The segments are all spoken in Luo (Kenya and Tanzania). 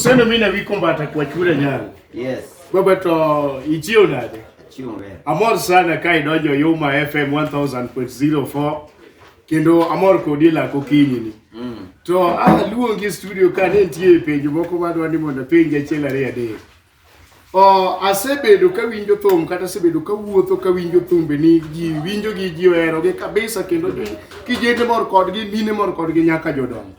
Sendo mine wiko mbata kwa chura nyalo. Yes. Baba to ichio nade? Achio mbele. Amor sana kai dojo Yuma FM 1000.04 kendo amor kodi la kokinyi ni. Mm. To ah luongi studio ka ne nitie penjo moko madwa ni mondo penje achiel ariyo adek. Oh, asebedo ka winjo thum kata asebedo ka wuotho ka winjo thumbe ni ji winjo gi ji ohero gi kabisa kendo kijende mor kodgi mine mor kodgi nyaka jodongo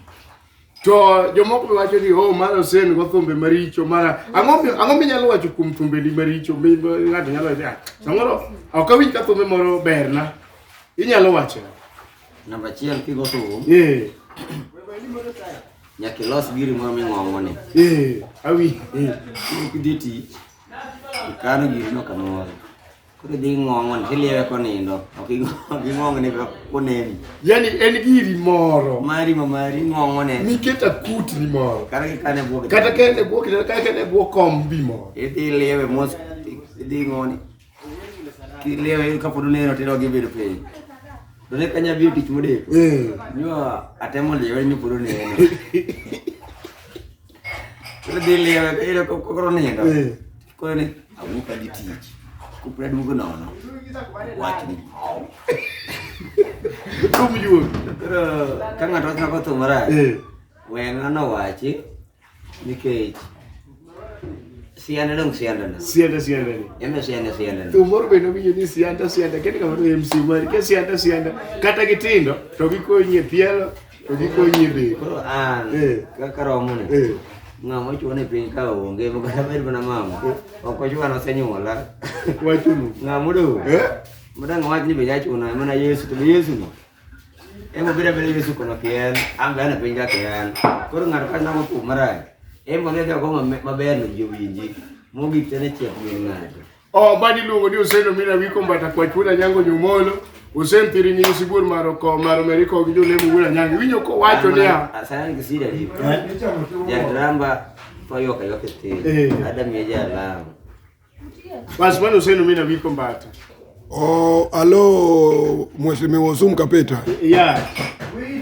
To jomoko be wacho ni oh mara osen go thumbe maricho mara ang'o mi- ang'o minyalo wacho kuom thumbeni maricho mi ma ng'ato nyalo wacho "Ah, samoro ok awinj ka thumbe moro berna inyalo wacho Namba achiel kigo thum eh nyaka ilos giri moro ming'ong'o ni. eh awi eh Kidhi ti ikano girino kamoro. Koro idhi ng'ong'on tiliewe konindo. Ok ing'ong'ne ka koneni. Yaani en giri moro. Mari ma mari ng'ong'one. Niketa kutni moro. Kata kikane bwok. Kata kene bwok kata kene bwok kombi moro. Idhi iliewe mos idhi ng'oni. Kiliewe kapod uneno tero gibedo piny. To ne kanya biyo tich modeko. Eh. Nyo atemo liewe ni pod uneno. Idhi liewe koro nindo. Eh. koro ne awuok adhi tich kopre aduogo nono wach ni rum yuok koro ka ng'ato ochako thum marach eh. weng'a nowachi nikech sianda dong sianda na sianda sianda ni enda sianda sianda tu moro be no winjo ni sianda sianda kende kama to MC mari ke sianda sianda kata gitindo to gikonyie pielo Koro an eh. kaka romo ni eh. ng'ama ochuo ni piny ka onge makata bed mana mama eh. ok ochuwa nosenyuola wachunu ng'ama odong' madang' wach ni be jachuna mana yesu to be yesu no ema beda beda yesu kono kien an be an e piny ka kien koro ng'ato ka namo kum marach ema ne dhi ogo maber no ji owinji mogik tene chiek min ng'ato Obadi luongo ni Oseno Mina Wiko Mbata Kwach Wuod Anyango Nyumolo Osen Thiri Nyingi Sibuor Maro Ko Maro Meriko gi Jolemo Wuod Anyango winyo ko wacho niya Asana kisida ni. Jadrama toyo kayo kete. Eh. Adam ya jalam. basi mano Oseno Mina Wiko Mbata Oh, alo Mheshimiwa Osum Kapeta, yeah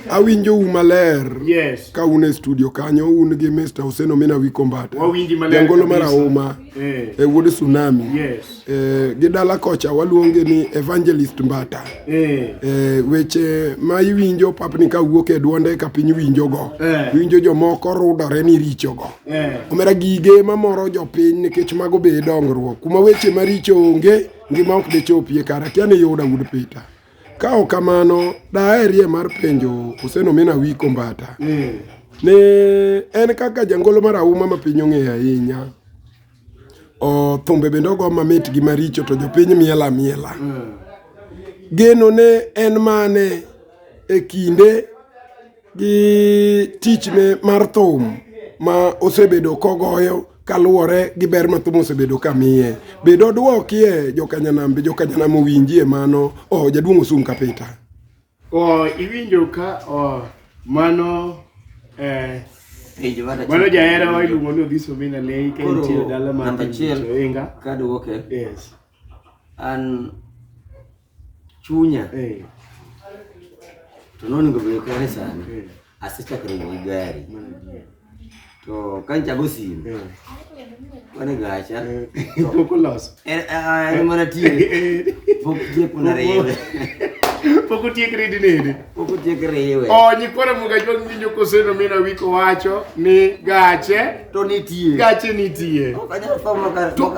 awinjo u maler yes ka un e studio kanyo un gi Mr. Oseno Mina Wiko Mbata. Wawinji maler Jangolo kabisa. marahuma. eh. e wuod Tsunami yes. e, gi dala kocha waluonge ni Evangelist Mbata eh. e, weche ma iwinjo papni ka wuok e duonde ka piny winjogo eh. iwinjo jomoko rudore ni richogo eh. omera gige mamoro jopiny nikech mago be dongruok kuma weche maricho onge ngima ok dichopie kara kia ni yuda wuod Peter Ka ok kamano, daherie mar penjo Osenomina Wi Kombata mm. ni en kaka jangolo mar auma ma piny ong'eyo ahinya thumbe bende ogo mamit gi maricho to jopiny miela miela mm. geno ne en mane e kinde gi tichne mar thum ma osebedo kogoyo kaluwore gi ber ma thum osebedo ka miye. Bed odwokie jokanyanam be jokanyanam owinjie mano. Oh, jaduong' osum kapita. Oh, iwinjo ka oh, mano eh, mano jahera wa iluongo ni Odhiso Mina Lei ka entie e dala mar Namba achiel Inga. kaduoke Yes. an chunya eh. to noningo bedo kare sani eh. asechako ringo gi gari to ka nchago simu eh. wane gacha pok oloso en mana tiye pok tieko na riwe pok otiek ridi nini pok otiek riwe o oh, nyikwara muga jwang winjo koseno mina wiko wacho ni gache to nitie gache nitie to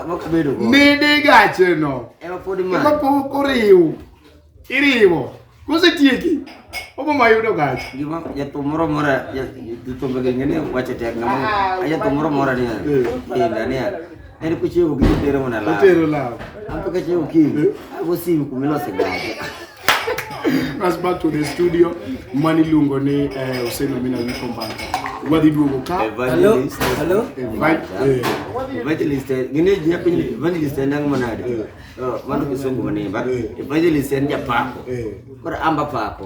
nidi gache no Ema pod ma. Ema pok oriw. Iriwo. Kosetieki. Obo ma yudo gach. Gima jathum moro mora jathumbe gi ngene wacho tek ngama. Ah, jathum moro mora ni. Inda ni. En kuchiewo gi tero mona la. Tero la. Ampe kache ukinyi. Ago simu kumilo sigara. That's back to the studio. Mani luongo ni eh, Hussein Amina Wiko Mbata. Wadhi duogo ka. Hello, hello. Invite. eh, Evangelist en- gini ji nyapi ni evangelist en nang'o manade? Oh, Mano kisungu manimba. Evangelist en japako. Eh. Koro amba pako.